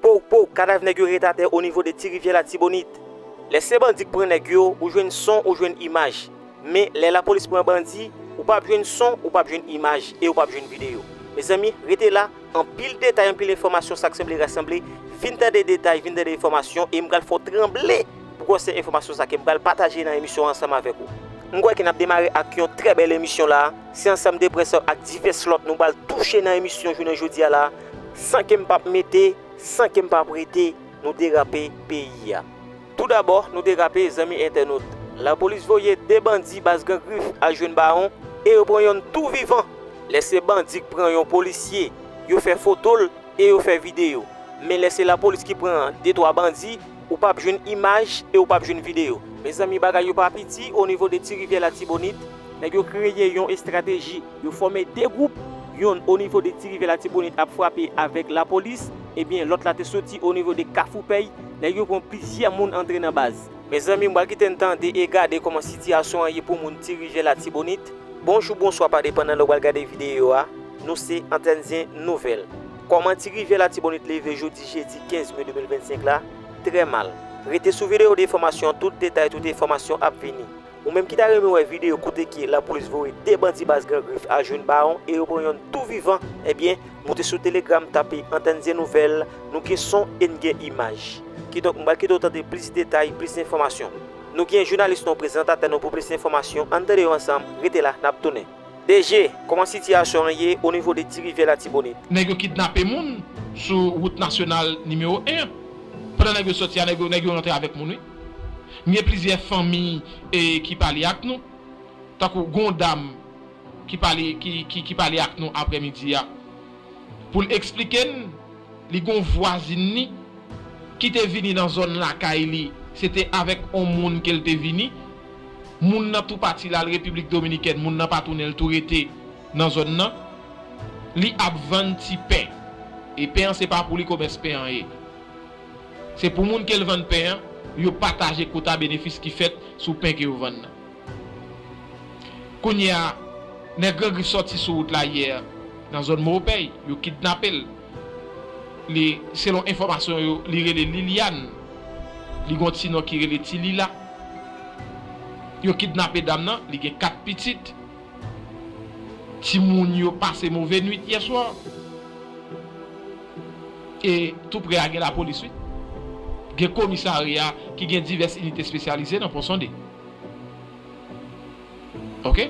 Pow pow kadav nèg yo ret atè onivo de ti rivyè latibonit. Lè se bandi k pran nèg yo ou jwenn son ou jwenn imaj men lè lapolis pran bandi ou pap jwenn son ou pap jwenn imaj e ou pap jwenn videyo mezanmi rete la anpil detay anpil enfòmasyon sak sanble rasanble vin tande detay vin tande enfòmasyon e m pral fè w tranble pou kò se enfòmasyon sa ke m pral pataje nan emisyon an ansanm avèk ou. M kwè ke nap demare ak yon trè bèl emisyon la se ansanm de prensèp ak divès lòt nou pral touche nan emisyon jounen jodi a la. San kem pap mete, san kem pa prete, nou derape peyi a. Tou dabò nou derape zanmi entènot. Lapolis voye 2 bandi baz Gran Grif al jwenn Bawon e yo pran yonn tou vivan. Lè se bandi k pran yon polisye, yo fè foto l e yo fè videyo. Men lè se lapolis ki pran de twa bandi, ou pap jwenn imaj e ou pap jwenn videyo. Mezanmi bagay yo pa piti o nivo de Ti Rivyè Latibonit. Nèg yo kreye yon estrateji. Yo fòme 2 gwoup, yonn onivo de Tirivyè Latibonit ap frape avèk lapolis, ebyen lòt la te soti onivo de Kafoupèy, nèg yo pran plizyè moun antre nan baz. Mezanmi m pral kite n tande e gade kòman sitiyasyon an ye pou moun Tirivyè Latibonit. Bonjou bonswa pa depandan lè w pral gade videyo a, nou se Antènzyen Nouvèl. Kòman Tirivyè Latibonit leve jodi jedi 15 me 2025 la, trè mal. Rete sou videyo defòmasyon tout detay tout enfòmasyon ap vini. Ou menm ki ta renmen wè video kote ke lapolis voye 2 bandi baz gran grif al jwenn bawon e yo pran yonn tou vivan ebyen moute sou telegram tape antèn zye nouvèl nou gen son e n gen imaj kidonk m pral kite w tande plis detay plis enfòmasyon nou gen jounalis nou prezantatè nou pou plis enfòmasyon ann tande yo ansanm rete la nap tounen. DG, kòman sitiyasyon an ye onivo de Tirivyè Latibonit? Nèg yo kidnape moun sou wout nasyonal nimewo 1 an. Pandan nèg yo sòti a nèg yo nèg yo rantre avèk moun wi. M gen plizyè fanmi ki pale ak nou, tankou gon dam ki pale ki pale ak nou aprè midi a pou l eksplike n li gon vwazin ni ki te vini nan zòn lakay li se te avèk on moun ke l te vini moun nan tou pati l al repiblik dominikèn moun nan pa tounen l tou rete nan zòn nan li ap vann ti pen e pen an se pa pou li komès pen an ye. Se pou moun ke l vann pen an yo pataje kota benefis ki fèt sou pen ke yo vann nan. Kounye a, nèg Gran Grif sòti sou wout la yè nan zòn Moropèy, yo kidnape l. Li, selon enfòmasyon yo, li rele Liliane, li gen yon ti non ki rele Ti Lila. Yo kidnape dam nan, li gen 4 pitit. Timoun yo pase move nwit yè swa. E tou prè a gen lapolis wi. Gen komisarya ki gen divès inite espesyalize nan Ponsonde. Ok.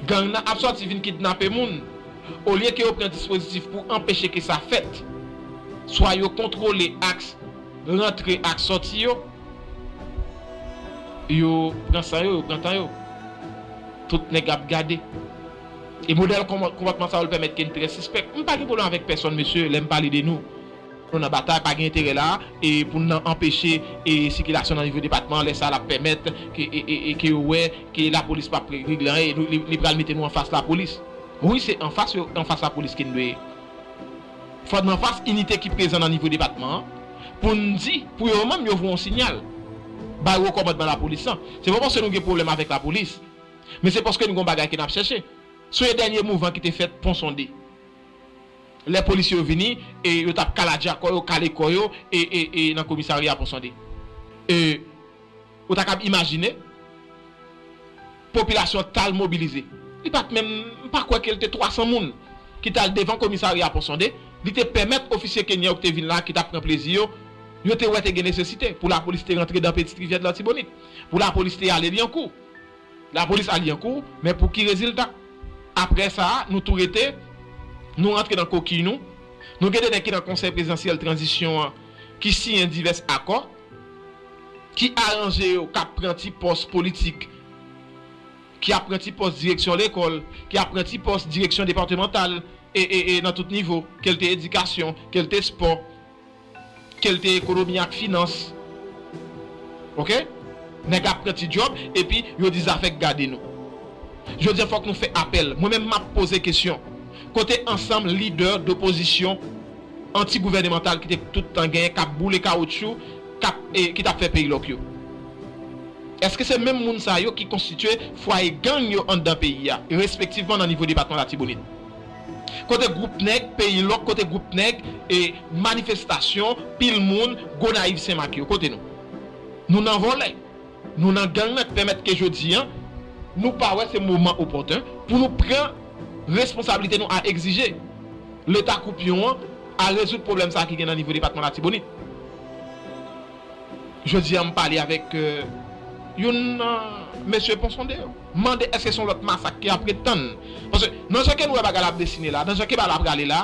Gang nan ap sòti vin kidnape moun, olye ke yo pran dispozitif pou anpeche ke sa fèt, swa yo kontwole aks rantre ak sòti yo, yo pran san yo, yo pran tan yo. Tout nèg ap gade. E modèl konpòtman sa yo l pèmèt ke n trè sispèk. M pa gen pwoblèm avèk pèsonn mesye lè m pale de nou. Nou nan batay, pa gen enterè la e pou n nan anpeche e sikilasyon nan nivo depatman an lè sa l ap pèmèt ke e ke yo wè ke lapolis p ap regle anyen e nou li pral mete nou anfas lapolis. Wi se anfas yo anfas lapolis ke n dwe fò n anfas inite ki prezan nan nivo depatman an pou n di pou yo menm yo voye yon sinyal bay wo kòmandman lapolis lan. Se pa paske nou gen pwoblèm avèk lapolis. Men se paske n gon bagay ke n ap chèche. Sonje dènye mouvan ki te fèt Pon Sonde. Lè polisye yo vini e yo t ap kaladja kò yo, kale kò yo e e e nan komisarya Pon Sonde. E ou ta kab imajine popilasyon an k t al mobilize. Li pa t menm, m pa kwè ke l te 300 moun ki t al devan komisarya Pon Sonde. Li te pèmèt ofisye Kenyan yo ki te vin la, ki t ap pran plezi yo, yo te wè te gen nesesite pou lapolis te rantre dan Petite Rivière de l'Artibonite, pou lapolis te ale Lyankou. Lapolis al Lyankou, men pou ki rezilta? Apre sa a, nou tou rete, nou rantre nan kokiy nou. Nou gen de nèg ki nan Konsèy Prezidansyèl Tranzisyon an ki siyen divès akò, ki aranje yo, k ap pran ti pòs politik, ki ap pran ti pòs direksyon lekòl, ki ap pran ti pòs direksyon depatemantal e nan tout nivo, ke l te edikasyon, ke l te spò, Kel te ekonomi ak finans ok nèg ap pran ti djòb epi yo di zafè k gade nou jodia fòk nou fè apèl mwen menm map poze kesyon kote ansanm lidè dopozisyon anti gouvènemantal ki te tout tan genyen kap boule kawoutchou kap ki tap fè peyi lòk yo eske se menm moun sa yo ki konstitye fwaye gang yo anndan peyi a respektivman nan nivo depatman latibonit. Kote group nèg peyi lòk kote group nèg e manifestasyon pil moun gonayiv senmak yo kote nou nou nan vòlè nou nan gang nan k pèmèt ke jodi an nou pa wè se moman opòten pou nou pran responsablite nou a egzije leta koupyon an a rezoud pwoblèm sa ki gen nan nivo depatman latibonit jodi an m pale avèk youn nan mesye ponsonde yo. M mande èske se yon lòt masak ki apre tann? Paske nan jan ke nou wè bagay la ap desine la, nan jan ke bagay la prale la,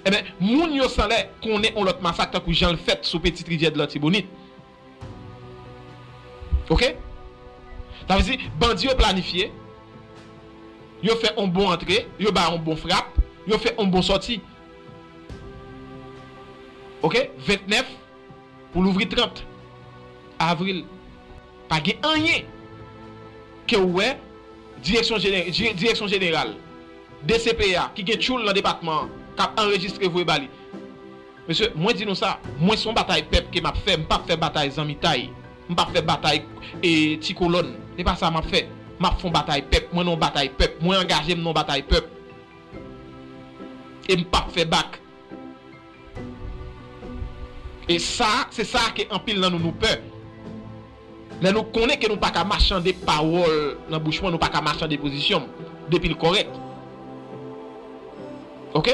enben, moun yo sanlè konnen yon lòt masak tankou jan l fèt sou Petite Rivière de l'Artibonite. Ok? Sa vle di, bandi yo planifye, yo fè yon bon antre, yo bay yon bon frap, yo fè yon bon sòti. Ok? 29 pou louvri 30 avril. Pa gen anyen ke ou wè direksyon direksyon jeneral dcpya ki gen tchoul nan depatman an k ap anrejistre voye ba li. Mesye, mwen di nou sa, mwen se yon batay pèp ke m ap fè, m p ap fè batay zanmitay, m p ap fè batay ti kolòn. Se pa sa m ap fè. M ap fè yon batay pèp. Mwen nan yon batay pèp. Mwen angaje m nan yon batay pèp. E m p ap fè bak. E sa, se sa ke anpil nan nou nou pè. Lè nou konnen ke nou pa ka machande pawòl nan bouch mwen, nou pa ka machande pozisyon m, depi l kòrèk. Ok?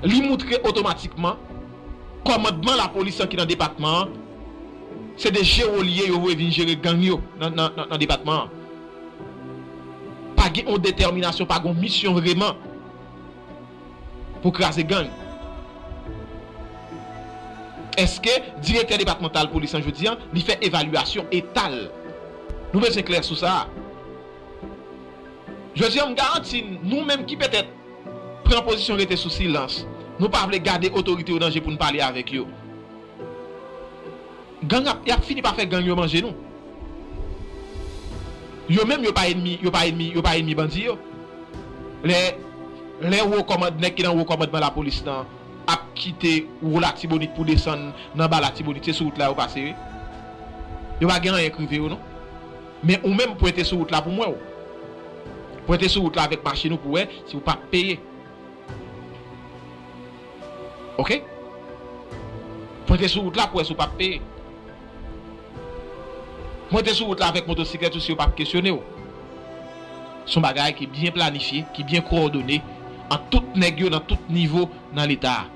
Li moutre otomatikman, kòmandman lapolis lan ki nan depatman an, se de jero li ye, yo voye vin jere gang yo nan depatman an. Pa gen yon detèminasyon, pa gen yon misyon vreman. pou kraze gang. Eske direktè depatmantal polis lan jodi an li fè evalyasyon eta l? Nou bezwen klè sou sa. Jodi an m garanti n nou menm ki petèt pran pozisyon rete sou silans, nou pa vle gade otorite yo danje pou n pale avèk yo, Gang ap yap fini pa fè gang yo manje nou yo menm yo pa enmi yo pa enmi yo pa enmi bandi yo lè lè wo kòmand nèg ki nan wo kòmandman lapolis nan ap kite wou latibonit pou desann nan ba latibonit se sou wout la yo pase wi yo pa gen anyen k rive yo non men ou menm pwente sou wout la pou m wè w pwente sou wout la avèk machin ou pou wè si w pap peye. Ok Pointe sou wout la pou wè si w pap peye Pointe sou wout la avèk motosiklèt ou si yo pap kesyone w Son bagay ki byen planifye, ki byen kowòdone ant tout nèg yo nan tout nivo nan leta a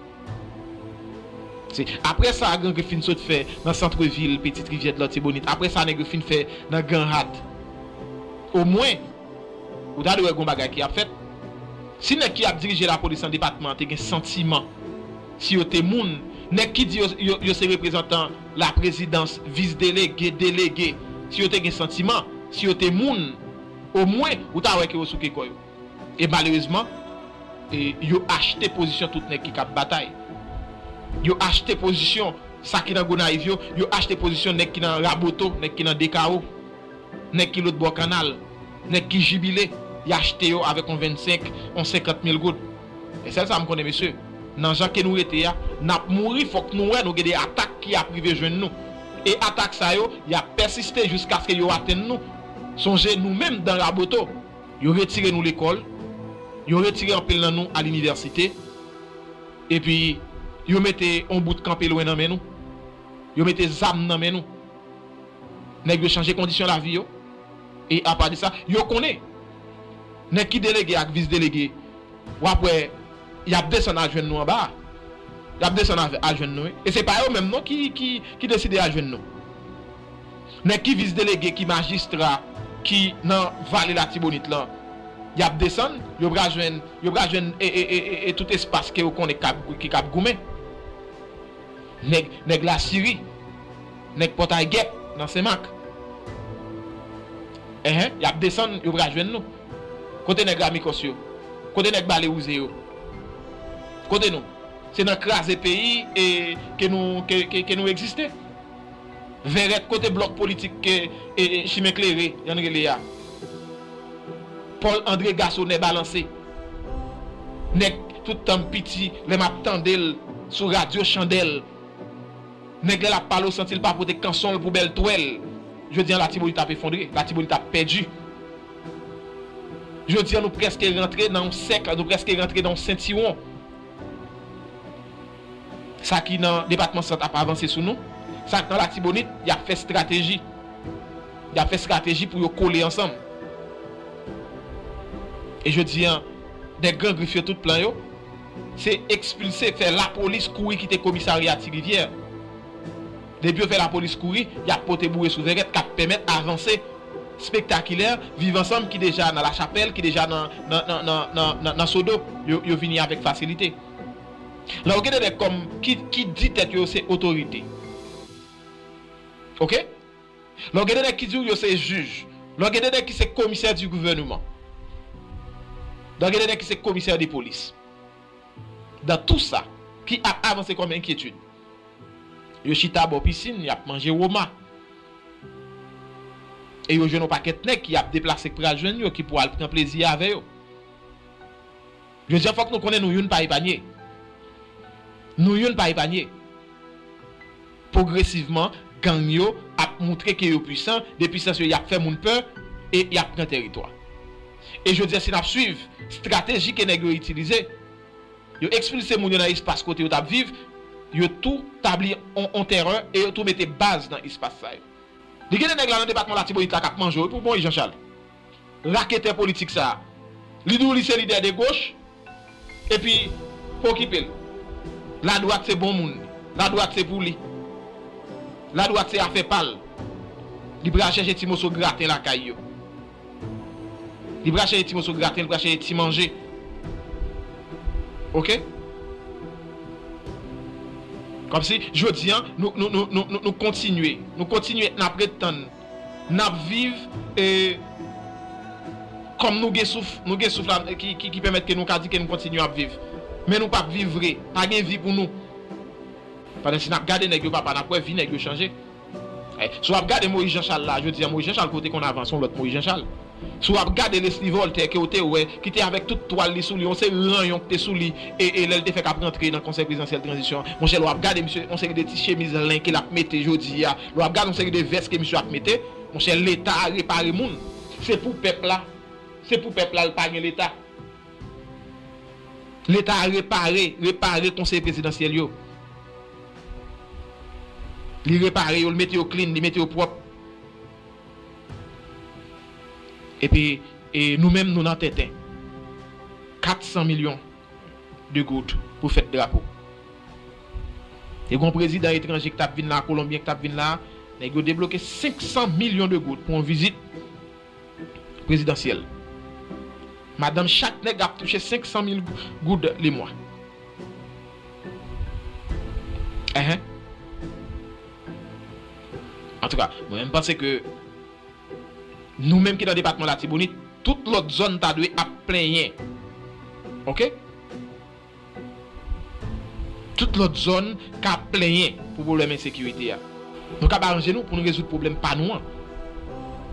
Se aprè sa Gran Grif fin sot fè nan Centre Ville, Petite Rivière de l'Artibonite aprè sa nèg yo fin fè nan Ganhat Omwen. Ou ta dwe wè gon bagay ki ap fèt. Si nèg ki ap dirije lapolis nan depatman an te gen santiman, si yo te moun, nèg ki di yo yo se reprezantan laprezidans, vis delege, delege, si yo te gen santiman, si yo te moun, omwen ou ta wè ke yo souke kò yo. E malerezman, yo achte pozisyon tout nèg ki kab batay. Yo achte pozisyon sa ki nan Gonayiv yo, yo achte pozisyon nèg ki nan Raboto, nèg ki nan Dekawo. Nèg ki lôt bò kannal, nèg ki jibile, y achte yo avèk on 25, on 50 mil goud. Men sèl sa m konnen mesye, nan jan ke nou rete a, n ap mouri fòk nou wè nou gen de atak ki ap rive jwenn nou. E atak sa yo, y ap pèsiste jiskaske yo atenn nou. Sonje nou menm dan Raboto, yo retire nou lekòl, yo retire anpil nan nou a linivèsite, epi yo mete on bout kanpe lwen nan men nou, yo mete zam nan men nou. Nèg yo chanje kondisyon lavi yo e apa de sa yo konnen nèg ki delege ak vis delege w ap wè y ap desann al jwenn nou anba a. Y ap desann al jwenn nou wi e se pa yo menm non ki deside al jwenn nou. Nèg ki vis delege, ki majistra, ki nan vale latibonit lan y ap desann yo pra jwenn yo pra jwenn e tout espas ke yo konnen ki k ap goumen. Nèg lasiri. Nèg pòtay gèp nan senmak. Ehe yap desann yo pral jwenn nou kote nèg ramikòs yo kote nèg bale wouze yo kote nou se nan kraze peyi e ke nou ke nou egziste vèrèt kote blòk politik ke e chimen klere yann rele a pòl andre gaso nè balanse nèg tout tanm piti lè map tandel sou radyo chandèl. Nèg lè lap pale w santi l pa pote kanson l pou bèl twèl Jodi an Latibonit ap efondre, Latibonit ap pèdi Jodi an nou prèske rantre nan yon sèk, nou prèske rantre nan yon sentiwon Sa ki nan depatman Sant ap avanse sou nou Sa k nan Latibonit y ap fè strateji Y ap fè strateji pou yo kole ansanm E jodi an dè gran grif yo tout plan yo Se ekspilse, fè lapolis kouri kite komisarya Ti Rivyè. Depi yo fè lapolis kouri, y ap pote boure sou vèrèt k ap pèmèt avanse spektakilè Viv Ansanm ki deja nan Lachapèl, ki deja nan Sodo. Yo vini avèk fasilite. La ou gen de nèg kòm ki di tèt yo yo se otorite. Ok? Lè w gen de nèg ki di w yo se jij, lè w gen de nèg ki se komisè di gouvèneman, lè w gen de nèg ki se komisè de polis, dan tou sa ki ap avanse kòm enkyetid, yo chita bò pisin, y ap manje woma, e yo jwenn yon pakèt nèg ki ap deplase k pral jwenn yo, ki pou al pran plezi avè yo. Jodi a fòk nou konnen nou youn pa epanye. Nou youn pa epanye. Pwogresivman, gang yo ap moutre ke yo pwisan, de pwisans yo y ap fè moun pè e y ap pran tèritwa. E jodi a si n ap swiv strateji ke nèg yo itilize, yo ekspilse moun yo nan espas kote yo t ap viv, yo tou tabli on tèrè e yo tou mete baz nan espas sa yo. Li gen de nèg la nan depatman Latibonit la k ap manje w wi pou bon wi Jan Chal. Raketè politik sa. Li di w li se lidè de goch, epi pa okipe l. La dwat se bon moun li. La dwat se pou li. La dwat se afè pa l. Li pral chèche ti moso graten lakay yo. Li pral chèche ti moso graten, li pral chèche ti manje. Ok? Kòmsi, jodi an, nou kontinye. Nou kontinye, n ap ret tann. Nap viv e Kom nou gen souf nou gen souf la ki pèmèt ke nou ka di ke nou kontinye ap viv men nou pap viv vre pa gen vi pou nou pandan si nap gade nèg yo papa nap wè vi nèg yo chanje si wap gade Moyiz Janchal la jodi a Moyiz Janchal ke w te konn avan son lot Moyiz Janchal. Si w ap gade Leslie Voltaire ke w te wè, ki te avèk tout twal li sou li, yon seri ranyon ki te sou li, e e lè l te fèk ap rantre nan Konsèy Prezidansyèl Tranzisyon an, monchè lè w ap gade misye, yon seri de ti chemiz len ke l ap mete jodi a, lè w ap gade yon seri de vès ke misye ap mete, monchè Leta a repare moun. Se pou pèp la, se pou pèp la l pa gen Leta. Leta a repare, repare Konsèy Prezidansyèl yo. Li repare yo, li mete yo clean, li mete yo pwòp. Epi nou menm nou nan tenten. 400 milyon de goud pou fèt drapo. Te gon prezidan etranje ki tap vin la, kolonbyen ki tap vin la, nèg yo debloke 500 milyon de goud pou yon vizit prezidansyèl. Madanm chak nèg ap touche 500 mil goud lemwa. Enh. Antouka, mwen menm panse ke nou menm ki nan depatman Latibonit, tout lòt zòn ta dwe ap plenyen. Ok. Tout lòt zòn ka ap plenyen pou pwoblèm ensekirite a. Nou kab aranje nou pou nou rezoud pwoblèm pa nou an.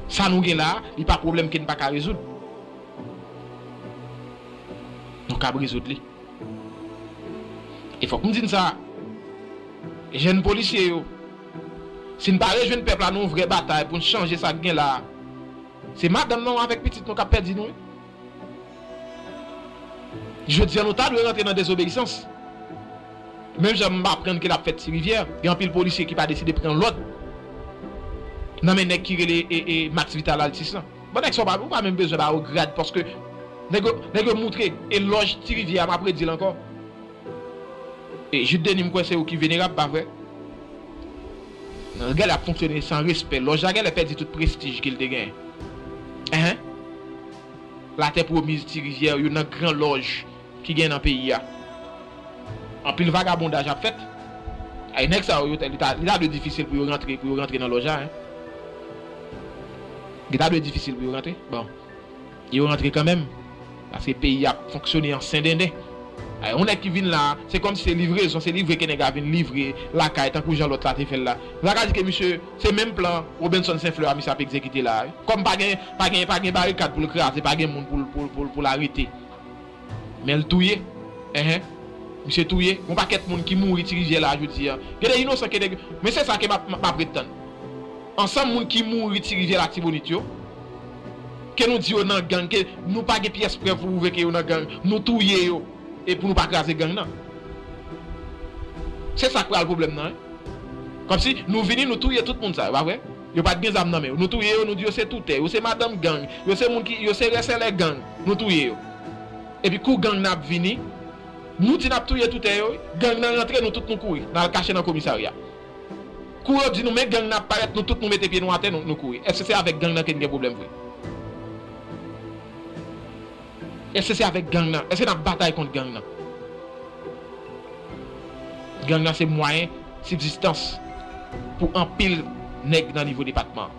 Sa nou gen la a, li pa pwoblèm ke n pa ka rezoud. Nou kab rezoud li. E fòk m di n sa a. Jèn polisye yo, si n pa rejwenn pèp la nan yon vrè batay pou n chanje sa k gen la a, se madanm nou avèk pitit nou k ap pèdi nou wi. Jodi an nou ta dwe rantre nan dezobeyisans. Menm jan m aprann ke l ap fèt Ti Rivyè, gen anpil polisye ki pa deside pran lòd nan men nèg ki rele Max Vital Altis lan. Bon nèg sa ou pa menm bezwen ba yo grad paske nèg yo moutre elòj Ti Rivyè a, m ap redi l ankò. Jude Denis m kwè se ou ki venerab pa vre? Gèlè ap fonksyone san respè lòj la gèlè pèdi tout prestij ke l te genyen anh latè pwomiz ti rivyè youn nan gran lòj ki genyen nan peyi a anpil vagabondaj ap fèt anh nèg sa yo li ta dwe difisil pou yo rantre pou yo rantre nan lòj la anh li ta dwe difisil pou yo rantre bon. Yo rantre kanmenm paske peyi ap fonksyone an sendenden. Yon nèg ki vin la, se kòm si se livrezon, se livre ke nèg la vin livre lakay tankou jan lòt la te fè l la. Nou ta ka di ke misye, se menm plan Robinson Senflè a misye ap egzekite la a wi. Kòm pa gen, pa gen, pa gen barikad pou l kraze, pa gen moun pou l, pou l, pou l arete. Men l touye enh misye touye yon pakèt moun ki mouri ti rivyè la jodi a gen de inosan ke de men se sa ke map ret tann ansanm moun ki mouri ti rivyè latibonit yo ke nou di yo nan gang ke nou pa gen pyès prèv pou pwouve ke yo nan gang nou touye yo e pou nou pa kraze gang nan se sak pral pwoblèm nan wi kòmsi nou vini nou touye tout moun sa yo pa vre. Yo pat gen zam nan men yo. Nou touye yo, nou di yo se toutè, yo se madanm gang, yo se moun ki, yo se rèsèlè gang, nou touye yo. Epi kou gang nan ap vini, nou di nap touye toutè yo wi, gang nan rantre nou tout nou kouri, nal kache nan komisarya. Kou yo di nou men gang nan ap parèt nou tout nou mete pye nou atè nou kouri. Eske se avèk gang nan ke n gen pwoblèm vre? Eske se avèk gang nan? Eske nap batay kont gang nan? Gang nan se mwayen sibzistans pou anpil nèg nan nivo depatman an.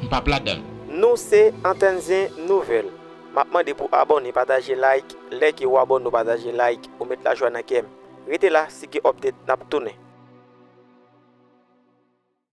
M pap ladan l. Nou se Antenne Zen Nouvelle. Map mande pou abone pataje like lè ke ou abone ou pataje like ou met lajwa nan kèm. Rete la si gen update nap tounen.